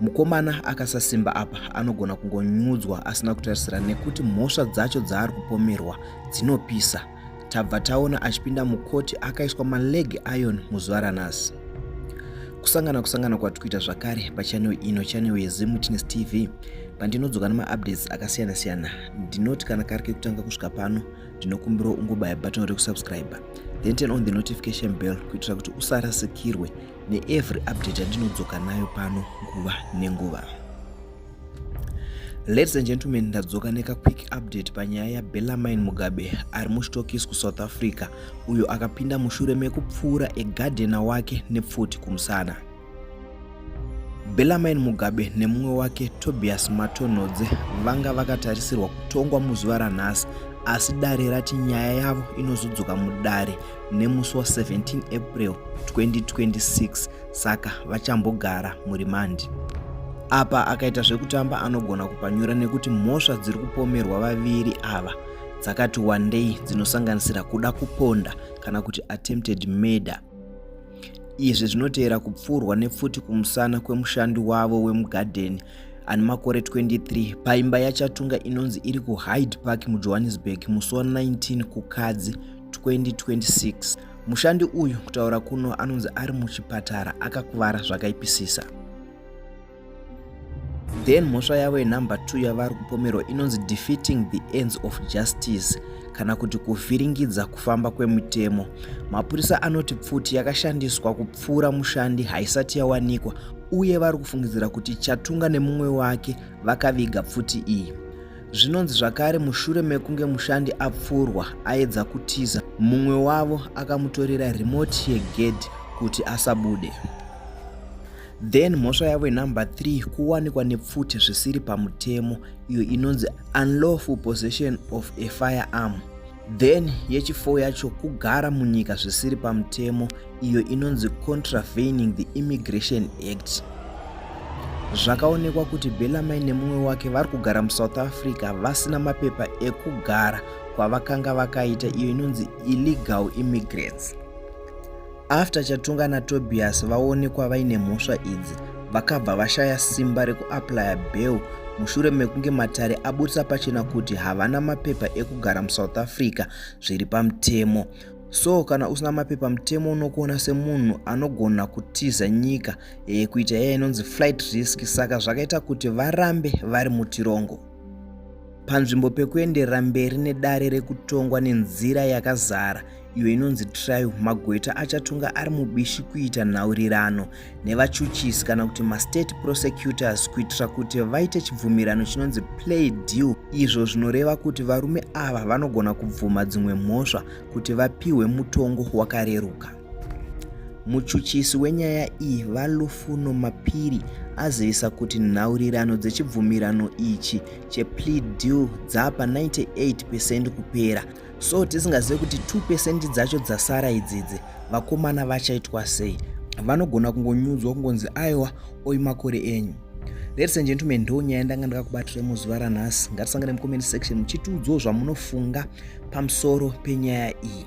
Mukomana akasasimba apa anogona kungonyudzwa asina kutarisira nekuti mhosva dzacho dzaari kupomerwa dzinopisa. Tabva taona achipinda mukoti akaiswa maleg iron muzuva ranhasi. Kusangana kusangana kwati kuita zvakare pachanel ino chanel yeZimwitness TV pandinodzoka nemaupdates akasiyana siyana ndinoti kana kari kekutanga kusvika pano ndinokumbirawo ungobaya button rekusubscribe then turn on the notification bell kuitira kuti usarasikirwe neevery update yandinodzoka nayo pano nguva nenguva ladies and gentlemen ndadzoka nekaquick update panyaya yabellamine mugabe ari muchitokis kusouth africa uyo akapinda mushure mekupfuura egadhena wake nepfuti kumusana bellamine mugabe nemumwe wake tobias matonhodze vanga vakatarisirwa kutongwa muzuva ranhasi asi dare rati nyaya yavo inozodzoka mudare nemusi wa 17 april 2026 saka vachambogara murimandi apa akaita zvekutamba anogona kupanyura nekuti mhosva dziri kupomerwa vaviri ava dzakati wandei dzinosanganisira kuda kuponda kana kuti attempted murder izvi zvinotevera kupfuurwa nepfuti kumusana kwemushandi wavo wemugadheni ane makore 23 paimba yachatunga inonzi iri kuhyde park mujohannesburg musi wa 19 kukadzi 2026. Mushandi uyu kutaura kuno anonzi ari muchipatara akakuvara zvakaipisisa. Then mhosva yavo yenumber 2 yavari kupomerwa inonzi defeating the ends of justice kana kuti kuvhiringidza kufamba kwemutemo. Mapurisa anoti pfuti yakashandiswa kupfuura mushandi haisati yawanikwa uye vari kufungidzira kuti Chatunga nemumwe wake vakaviga pfuti iyi. Zvinonzi zvakare mushure mekunge mushandi apfurwa aedza kutiza, mumwe wavo akamutorera remote yegedhi kuti asabude. Then mhosva yavo inumber 3 kuwanikwa nepfuti zvisiri pamutemo iyo inonzi unlawful possession of a firearm. Then yechifo yacho kugara munyika zvisiri pamutemo iyo inonzi contravening the Immigration Act. Zvakaonekwa kuti Bellarmine nemumwe wake vari kugara muSouth Africa vasina mapepa ekugara kwavakanga vakaita iyo inonzi illegal immigrants. After Chatunga naTobias vaonekwa vaine mhosva idzi, vakabva vashaya simba rekuaplaya bail mushure mekunge matare aburitsa pachena kuti havana mapepa ekugara musouth africa zviri pamutemo so kana usina mapepa mutemo unokuona semunhu anogona kutiza nyika e, kuita iya inonzi flight risk saka zvakaita kuti varambe vari mutirongo panzvimbo pekuenderera mberi nedare rekutongwa nenzira yakazara iyo inonzi trial magweta achatonga ari mubishi kuita nhaurirano nevachuchisi kana kuti mastate prosecutors kuitira kuti vaite chibvumirano chinonzi play deal izvo zvinoreva kuti varume ava vanogona kubvuma dzimwe mhosva kuti vapiwe mutongo wakareruka Muchuchisi wenyaya iyi, VaLufuno Mapiri, azivisa kuti nhaurirano dzechibvumirano ichi cheplea deal dzapa 98 percent kupera so tisingazive kuti 2 percent dzacho dzasara idzidzi vakomana vachaitwa sei vanogona kungonyudzwa kungonzi aiwa oi makore enyu ladies and gentlemen ndo nyaya ndanga ndakakubatirai muzuva ranhasi ngatisangane mucomment section muchitiudzawo zvamunofunga pamusoro penyaya iyi